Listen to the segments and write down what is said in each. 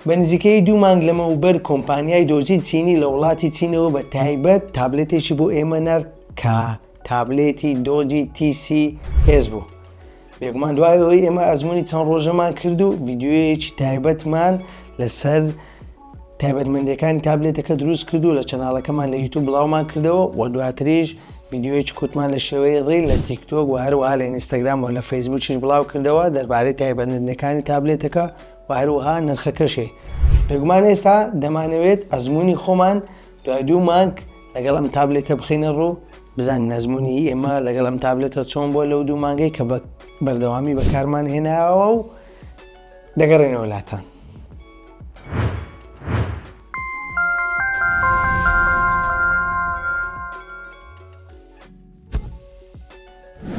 بە نزیکەیی دوو مانگ لەمەوبەر کۆمپانیای دۆجی چینی لە وڵاتی چینەوە بە تایبەت تابلێتێکی بۆ ئێمە نارد کە تابلێتی دۆجی تی سی ئێس بوو. بێگومان دوای ئەوەی ئێمە ئەزمموی چەند ڕۆژەمان کرد و ڤیددیوەیەکی تایبەتمان لەسەر تایبەتمەندەکانی تابلێتەکە دروست کرد و لە چەناڵەکەمان لە یوتوب بڵاومان کردەوە و دواتریش ویددیوەیەکی کوتمان لە شێوەی ڕیل لە تیکتۆک و هەروەها لە ئینستاگرام و لە فەیسبووکیش بڵاو کردەوە دەربارەی تایبەتمەندەکانی تابلێتەکە و هەروەها نرخەکەشێ بێگومان ئێستا دەمانەوێت ئەزمونی خۆمان دوای دوو مانگ لەگەڵ ئەم تابلێتە بخینە ڕوو بزانین ئەزمونی ئێمە لەگەڵ ئەم تابلێتە چۆن بۆ لەو دوو مانگەی کە بە بەردەوامی بەکارمان هێناوە و دەگەڕێنەوە لاتان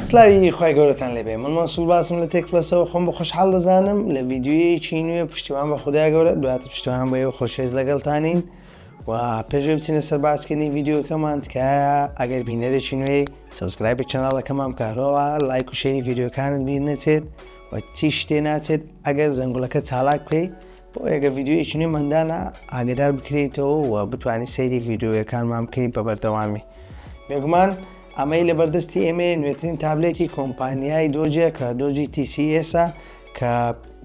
سلاوی خی گەورەتان لێبێ من مەسول باسم لە تێک پلەسەوە خۆم بە خۆشحاڵ دەزانم لە ڤیددیوەیەکی نوێ پشتیوان بە خوددا گەورە دواتر پشتوان بە ئێوە خۆشێز لەگەڵتانین و پێشێ بچینە سەر باسکردنی ڤیددیوکەمان تکایە ئەگەر بینەرێکی نوێ سەسکرایبی چناڵەکەمان بکارەوە لایک و شێری ڤیددیوکانت بیر نەچێت و چی شتێ ناچێت ئەگەر زەنگولەکە چالاک بکەیت بۆ ئەگەر ڤیدیۆیەکی نوێمان دانا ئاگدار بکرێیتەوە و بتوانانی سەیری ڤیددیوەکانمان بکەیت بە بەردەوامی بێگومان ئەمەی لە بەردەستی ئێمە نوێترین تابلێتی کۆمپانیای دۆجە کە دۆجی TCSە کە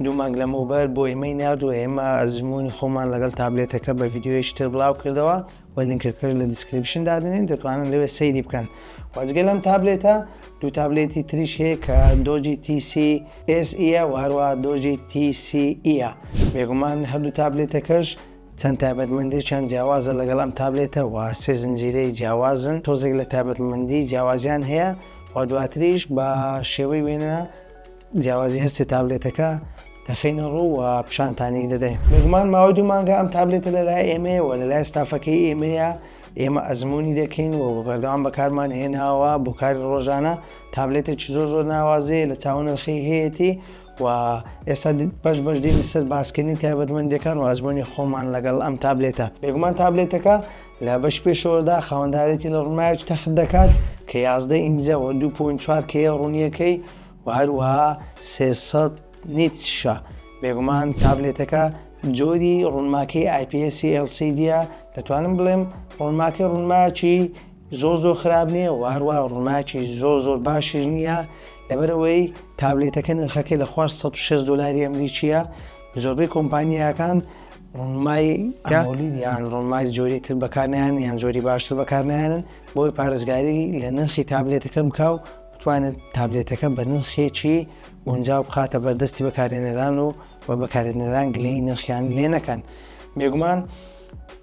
دوو مانگ لەمەوبەر بۆ ئێمەی نردووە ئێمە ئەزمموی خۆمان لەگەڵ تابلێتەکە بە ڤیددیوەیەشتر بڵاو کردەوە وە لینکەکەش لە دیسکریپشن دادەنێین دەتوانن لەوێ سەیری بکەن وە جگە لەم تابلێتە دوو تابلێتی تریش هەیە کە دۆجی تیسی ئێس ئیە و هەروە دۆجی تیسی ئیە بێگومان هەردوو تابلێتەکەش چەند تایبەتمەندێکیان جیاوازە لەگەڵ ئەم تابلێتە و سێ زنجیرەی جیاوازن تۆزێک لە تایبەتمەندی جیاوازیان هەیە و دواتریش بە شێوەی وێنە جیاوازی هەر سێ تابلێتەکە دەخینە ڕوو و پیشانتانی دەدەین بێگومان ماوەی دوو مانگە ئەم تابلێتە لەلای ئێمەیەوە لەلای ستافەکەی ئێمەیە ئێمە ئەزمموی دەکەین و بەردەوام بەکارمان هێناوە بۆ کاری ڕۆژانە تابلێتێکی زۆر زۆر ناوازەیە لە چاون نرخی هەیەی و ئێستا بەش بەش دین سەر باسکردنی تایبەتمەندەکان و ئەزمموی خۆمان لەگەڵ ئەم تابلێتە بێگومان تابلێتەکە لە بەش پێشەوەدا خاوەندارێتی لە ڕمایج تەخت دەکات کە یازدە ئینجەوە 2.4 کەیە ڕوونیەکەی و هەروەها سێ سەد نیتس-شە، بێگومان تابلێتەکە جۆری ڕوونماکەی ئایپیئێسی ئێڵ سی دییە، دەتوانم بڵێم ڕوونماکەی ڕوونماکی زۆر زۆر خراپ نییە و هەروەها ڕوونماکی زۆر زۆر باشیش نییە، لەبەر ئەوەی تابلێتەکە نرخەکەی لە خوار سەد و شەست دۆلاری ئەمریکییە، زۆربەی کۆمپانیاکان ڕوونمای ئەمۆلید یان ڕوونمای جۆری تر بەکار نایەنن یان جۆری باشتر بەکار نایەنن، بۆیە پارێزگاری لە نرخی تابلێتەکە بکە و بتوانێت تابلێتەکە بە نرخێکی گونجاو بخاتە بەردەستی بەکارێنەران و و بەکارێنەران گلەی نرخیان لێ نەکەن بێگومان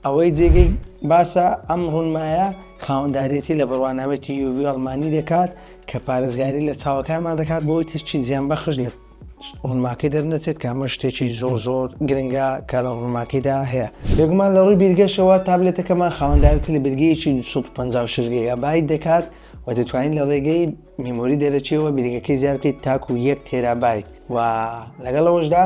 ئەوەی جێگەی باسە ئەم ڕوونمایە خاوەندارێتی لە بڕوانامێتی یوڤ ئەڵمانی دەکات کە پارێزگاری لە چاوەکانمان دەکات بۆی تشتی زیان بەخش لە ڕوونماکەی دەرنەچێت کە ئەمە شتێکی زۆر زۆر گرنگە کە لە ڕوونماکەیدا هەیە بێگومان لە ڕووی بیرگەشەوە تابلێتەکەمان خاوەندارێتی لە بیرگەیەکی 250 شرگەیە بای دەکات و دەتوانیت لە ڕێگەی میمۆری دەرەچیەوە بریگەکەی زیاد بکەیت تاکو یەک تێرابایت و لەگەڵ ئەوەشدا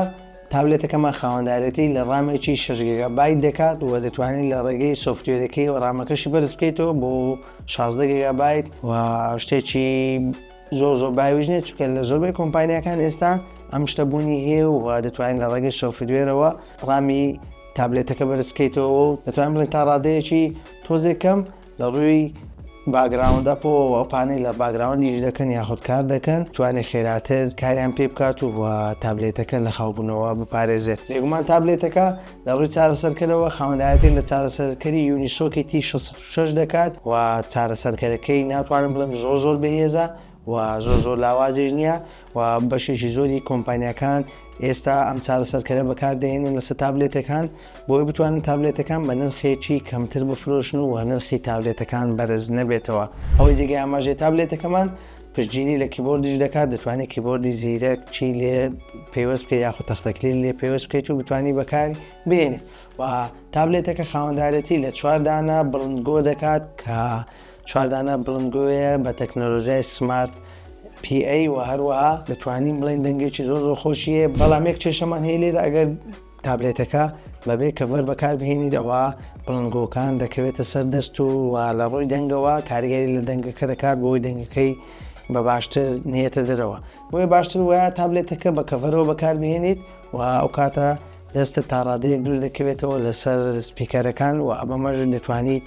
تاولێتەکەمان خاوەندارێتی لە ڕامێکی شەژگەگە بای دەکات و دەتوانین لە ڕێگەی سوفتێرەکەی و ڕامەکەشی بەرز بکەیتەوە بۆ 16گەگە بایت و شتێکی زۆر زۆر باویش نیە چکە لە زۆربەی کۆمپانیەکان ئێستا ئەم شتە بوونی هەیە و دەتوانین لە ڕێگەی سۆفدوێرەوە ڕامی تابلێتەکە بەرزکەیتەوە و دەتوانین بڵێن تا ڕادەیەکی تۆزێکەم لە ڕووی باگراوند ئەپەوە پانێل لە باگراوند یش دەکەن یاخود کار دەکەن توانێت خێراتر کاریان پێ بکات و تابلێتەکە لە خاوبوونەوە بپارێزێت بێگومان تابلێتەکە لە ڕووی چارەسەرکەرەوە خاوەندایەتی لە چارەسەرکەری یونیسۆکێتی 66 دەکات و چارەسەرکەرەکەی ناتوانم بڵێم زۆر زۆر بەهێزە و زۆر زۆر لاوازیش نییە و بەشێکی زۆری کۆمپانیاکان ئێستا ئەم چارەسەرکەرە بەکاردێنن لەسەر تابلێتەکان بۆی بتوانن تابلێتەکان بە نرخێکی کەمتر بفرۆشن و نرخی تابلێتەکان بەرز نەبێتەوە ئەوەی جێگای ئاماژێ تابلێتەکەمان پشتگیری لە کیبۆردیش دەکات دەتوانێت کیبۆردی زیرەک چی لێ پێوەست بکە یاخود تەختەکلیل لێ پێوەست بکەیت و بتانی بەکار بێنێت و تابلێتەکە خاوەندارەتی لە چواردانە بڵندگۆ دەکات کە چوار دانە بڵندگۆیە بە تەکنەلۆژیای سمارت پی ئەی و هەروەها دەتوانین بڵێن دەنگێکی زۆر زۆر خۆشیە بەڵام یەک کێشەمان هەیە لێرە ئەگەر تابلێتەکە بەبێ کەڤەر بەکار بهێنیت ئەوە بڵنگۆکان دەکەوێتە سەر دەست و و لە ڕووی دەنگەوە کاریگەری لە دەنگەکە دەکات بۆی دەنگەکەی بە باشتر نێتە دەرەوە بۆیە باشتر وە تابلێتەکە بە کەڤەرەوە بەکار بهێنیت و ئەو کاتە دەستە تاڕادەیەک دوور دەکەوێتەوە لەسەر سپیکەرەکان و ئەمەمەژ دەتوانیت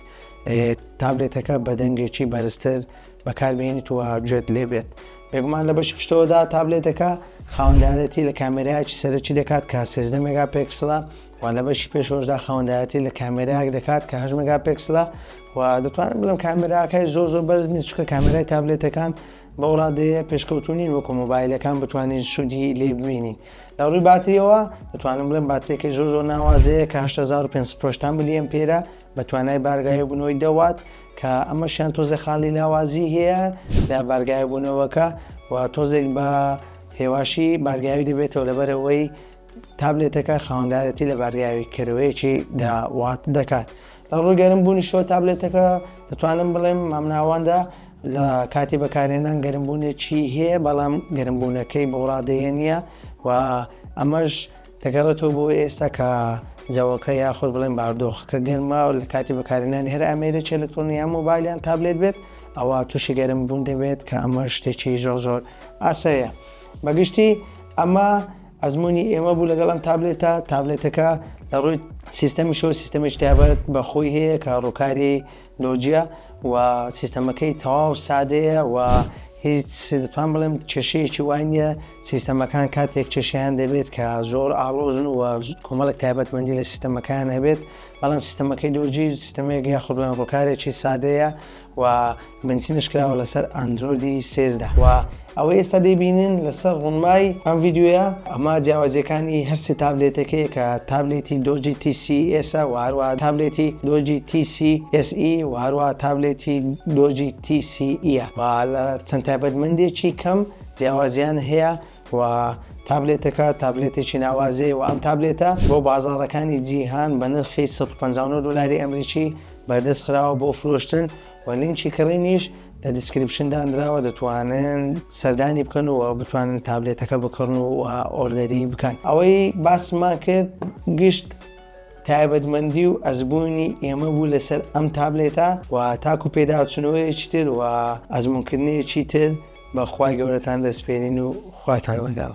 تابلێتەکە بە دەنگێکی بەرزتر بەکاربیێنیت و گوێت لێ بێت بێگومان لە بەش پشتەوەدا تابلێتەکە خاوەندارەتی لە کامێراکی سەرەکی دەکات کە سێزدە مێگا پێکسڵە و لە بەشی پێشۆشدا خاوەندایەتی لە کامێراک دەکات کە هەش مگا پێکسلە و دەتوانم بڵم کامێراکەی زۆ زۆ بەرز نیچکە کامێرای تابلێتەکان بەوڕادەیە پێشکەوتونین وەکو مۆبایلەکان بتوانین سوودی لێ ببینین لە ڕووی باتریەوە دەتوانم بڵێن باتێکی زۆ زۆر ناوازەیە کە 1500 پرۆشتان ملیەن پێرە بە توانای بارگاهێبوونەوەی دە وات کە ئەمەشیان تۆزێ خاڵی لاوازی هەیە لە بارگاهێبوونەوەکە و تۆزێک بە هێواشی بارگاوی دەبێتەوە لەبەرەوەی تابلێتەکە خاوەندارەتی لە بارگاوی کەرەوەیەکی دا وات دەکات لە ڕووی گەرم بوونی شۆ تابلێتەکە دەتوانم بڵێم مامناواندا لە کاتی بەکارێنان گەرمبوونێکی هەیە بەڵام گەرمبوونەکەی بەوڕادەیە نییە و ئەمەش دەگەڕێتەوە بۆ ئێستا کە جەوەکە یاخود بڵێن باردۆخەکە گەرمە و لە کاتی بەکارهێنانی هەر ئامێرێکی ئەلکترۆنی یان مۆبایل یان تابلێت بێت ئەوە تووشی گەرم بوون دەبێت کە ئەمە شتێکی زۆر زۆر ئاسەیە بەگشتی ئەمە ئەزمموی ئێمە بوو لەگەڵ ئەم تابلێتە تابلێتەکە لە ڕووی سیستەمیشەوە سیستەمێک تابەت بەخۆی هەیە کە ڕووکاری لۆجیا و سیستەمەکەی تەواو سادەیە و هیچ دەتوان بڵێم کێشەیەکی وای نییە سیستەمەکان کاتێک کێشیان دەبێت کە زۆر ئاڵۆزن و کۆمەڵک تایبەتمەندی لە سیستەمەکان هەبێت بەڵام سیستەمەکەی لۆجی سیستەمێک یاخود بڵێن ڕووکارێکی سادەیە و بنچینش کراوە لەسەر ئەندرۆیدی سێزدە و ئەوەی ئێستا دەیبینن لەسەر ڕونمای ئەم ڤیدیۆیە ئەمە جیاوازیەکانی هەر سێ تابلێتەکەیە کە تابلێتی دۆجی تی سی ئێس ە وە هەروەها تابلێتی دۆجی تی سی ئێس ئی وە هەروەها تابلێتی دۆجی تی سی ئی ە وە لە چەند تایبەتمەندێکی کەم جیاوازیان هەیە وە تابلێتەکە تابلێتێکی ناوازەیە وە ئەم تابلێتە بۆ بازاڕەکانی جیهان بە نرخی سەد و پەنجا و نۆ دۆلاری ئەمریکی بەردەست خراوە بۆ فرۆشتن وە لینکی کڕینیش لە دیسکریپشن دانراوە دەتوانن سەردانی بکەن و بتوانن تابلێتەکە بکڕن و ئۆردەری بکەن ئەوەی باسمان کرد گشت تایبەتمەندی و ئەزبوونی ئێمە بوو لەسەر ئەم تابلێتە و تاکو پێداچنەوەیەکی تر و ئەزمونکردنیەکی تر بەخوای گەورەتان دەستپێرین و خواتان لەگەڵ